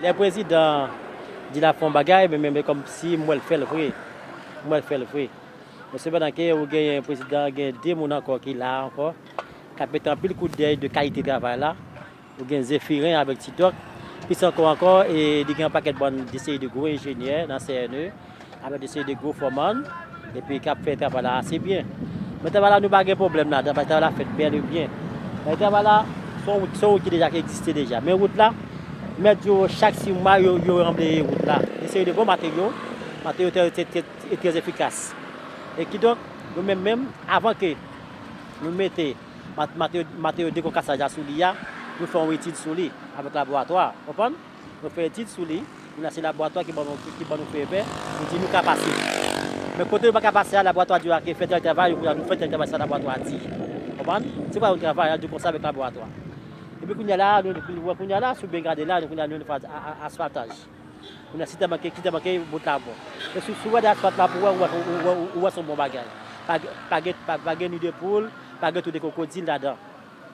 Lè prezidan di lap fè yon bagay men men kòm si m wèl fèl vre m wèl fèl vre men sepandan ke ou genyen prezidan gen 2 moun ankò ki la ankò kap mete anpil kout dèy de kalite travay la Ou gen Zephirin avèk Ti Dòk. Plis ankò ankò, li gen yon pakèt bann de seri de gwo enjenyè nan CNE avèk de seri de gwo fòmann epi k ap fè travay la ase byen. Men travay la nou pa gen pwoblèm ladan l paske travay la fèt bèl e byen. Paske travay la se yon wout, se yon wout ki deja ki egziste deja. Men wout la, mèt yo chak si mwa yo ranbleye wout la. Yon seri de bon materyo, materyo trè e trè efikas. E kidonk nou menm menm avan ke nou mete. Matè yo dekon kasaj la sou li a, nou fè yon etid sou li avèk laboratwa. Konprann? Nou fè etid sou li, kounye a se laboratwa ki ban nou fè vè, nou di nou ka pase. Men kote nou pa ka pase a, laboratwa di yo ake, fè tèl travay, yo kounye a nou fè tèl travay sa laboratwa a di. Konprann? Se pa yon travay, a di yo konsa avèk laboratwa. Epi kounye a la a, nou wè kounye a la a, si w byen gade la a, nou kounye a nou wè nou fè asfaltaj. Kounye a si tè manke, ki tè manke, bout la bon. E si w gade asfalt la pou wè, ou wè se yon bon bagay. Pa gen ni de poul, pa gen tou de kwokodil ladan.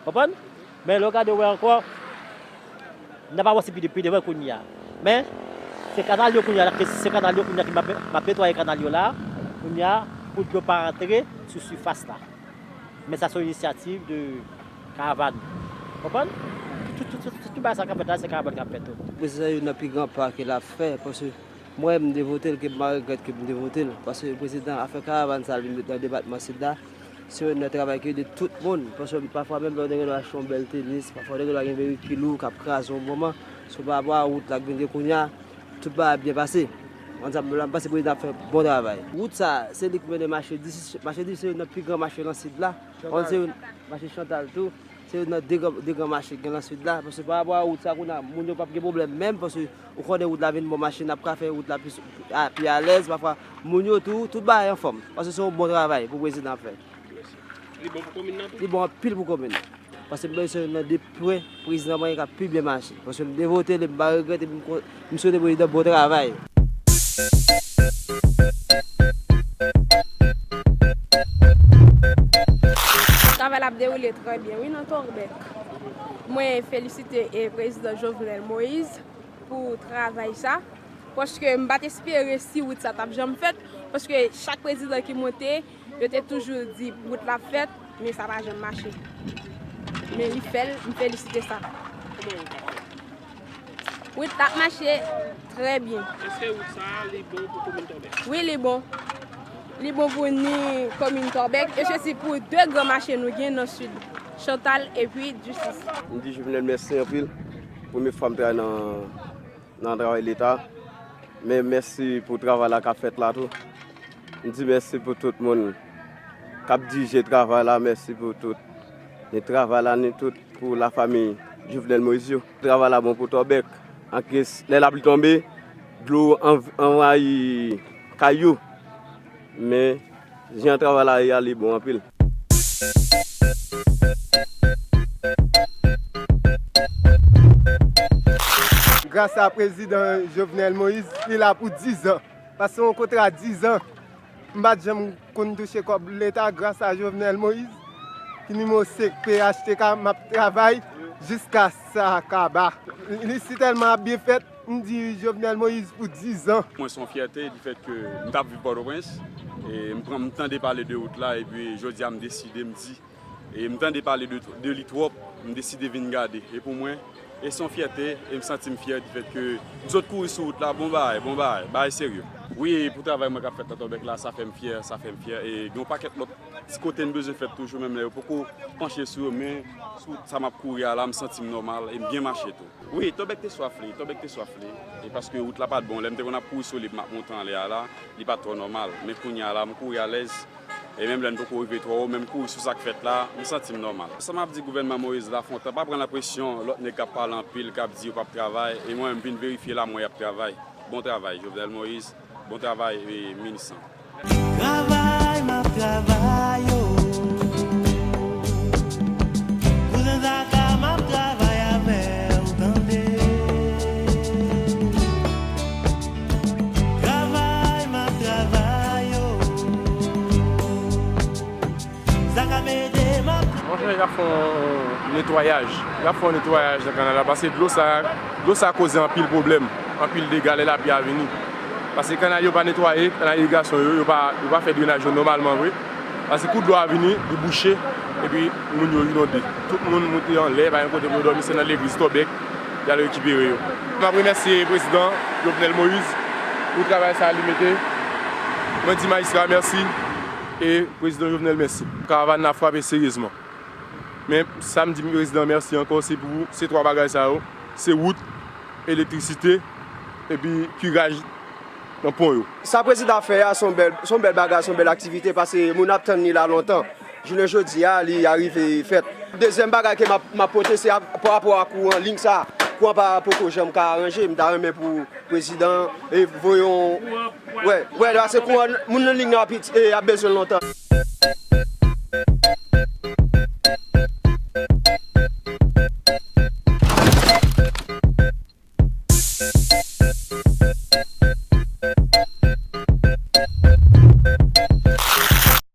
Konprann? Men lè w gade wè ankò, n ap avanse pi devan kounye a. Men, se kanal yo kounye a, se kanal yo kounye a ki m ap netwaye kanal yo la a, kounye a, pou dlo pa antre sou sifas la. Men sa se yon inisyativ de. Karavan. Konprann? Tout bagay sa kap fèt la se karavan kap fè tout. Prezidan youn nan pi gran pa ke la fè paske mwen mde votel ke mpa regrèt ke mte votel paske prezidan afè karavan sa li met nan depatman sid la se youn nan travay ki ede tout moun paske pafwa menm lè ou te gendwa achte yon bèl tenis pafwa ou te gendwa gen bèri ki lou kap kraze yon moman sou pa rapò a wout la k vin gen kounya tout bagay ap byen pase an sa m pase prezidan ap fè bon travay. Wout sa se li k mennen machedis machedis se youn nan pi gran mache nan sid la. Hòn se youn, mache Chantal tou, se youn nan de gran, de gran mache ki gen lan Sid la, paske parapò a wout sa kounye a, moun yo pap gen pwoblèm menm, paske ou konnen wout la vin bon machin ap ka fè wout la plis, pi alèz, pafwa moun yo tou, tout bagay anfòm, paske se yon bon travay pou prezidan ap fè. Li bon pou komin nan tou? Li bon anpil pou komin nan. Paske m panse se youn nan de pwen prezidan mwen ka pi byen mache. Paske m te vote li, m pa regrèt epi m kon. M swete prezidan bon travay. Travay la ap dewoule trè byen wi nan Torbeck. Mwen felisite prezidan Jovenel Moise pou travay sa. Paske m pat espere si wout sa tap janm fèt. Paske chak prezidan ki monte. Yo te toujou di wout la ap fèt men sa pa janm mache men li fèl m felisite sa wout la ap mache trè byen. Eske wout sa a li bon pou komin Tòbèk? Wi li bon, li bon pou ni komin Tòbèk e sesi pou 2 gran mache nou gen nan sid, Chantal epi Ducis. M di Jovenel mèsi anpil, premye fwa m travay nan travay leta men mèsi pou travay la kap fèt la tou. M di mèsi pou tout moun kap dirije travay la mèsi pou tout ni travay la ni tout pou la fami Jovenel Moïse yo. Travay la bon pou tòbèk anke lè lapli tonbe dlo anvayi kay yo men jan travay la ye a li bon anpil. Gras a prezidan Jovenel Moïse li la pou 10 zan. Pase yon kontra 10 ans m pat janm konn touche kob leta gras a Jovenel Moïse ki nimewo 5 phtk map travay jiska sa kaba. Li si telman ap byen fèt m di Jovenel Moïse pou 10 ans. Mwen son fyète di fèt ke m tap viv Port-au-Prince e m pran m tande pale de wout la epi jodi a m deside m di. E m tande pale de li twòp, m deside vin gade. E pou mwen, e s on fyète, e m santi m fyè difèt ke m sot kouri sou wout la. Bon bagay, bon bagay, bagay serye. Wi, e pou travay mwen k ap fèt nan Tòbèk la, sa fè m fyè, sa fè m fyè. E gen yon pakèt lòt ti kote m bezwen fèt toujou, menm lè yo poko panche sou yo. Men, sou wout sa m ap kouri a la, m santi m nòmal e m byen mache tou. Wi, Tòbèk te swaf li, Tòbèk te swaf li. E paske wout la pa t bon, lè m te konn ap kouri sou li pou m ap monte anlè a la, li pa t twò nòmal. Men kounye a la, m kouri alèz. E menm lè n poko rive twò wo, menm kouri sou sa k fèt la, m santi m nòmal. Sa m ap di gouvènman Moïse Lafontant, pa pran nan presyon lòt nèg k ap pale anpil, k ap di yo p ap travay, e mwen menm m vin verifye la m wè y ap travay. Bon travay Jovenel Moïse, bon travay minis lan. Travay map travay oh Sa kap ede m ap. Mwen wè yap fè yon netwayaj, yap fè yon netwayaj nan kanal la paske dlo sa, dlo sa koze anpil pwoblèm, anpil dega lè lapli a vini. Paske kanal yo pa netwaye, kanal irigasyon yo, yo pa fè drenaj yo nòmalman vre. Paske kou dlo a vini, li bouche epi moun yo inonde. Tout moun moute anlè, pa gen kote pou yo dòmi, se nan legliz, tòbèk. Y al rekipere yo. M ap remèsye prezidan Jovenel Moïse pou travay sa a li mete. Mwen di majistra a mèsi e prezidan Jovenel mèsi. Karavàn nan ap frape seryezman. Men sa m di prezidan mèsi ankò se pou se twa bagay sa yo, se wout, elektrisite epi kiraj nan pon yo. Sa prezidan ap fè a s on bèl bagay, s on bèl aktivite pase moun ap tann li la lontan. Jounen jodi a li arive fèt. Dezyèm bagay ke m ap pote se pa rapò a kouran, lign sa a. Kouran pa poko janm ka aranje. M ta renmen pou prezidan voye yon, wè, wè la se kouran moun nan lign nan ap bezwen l lontan.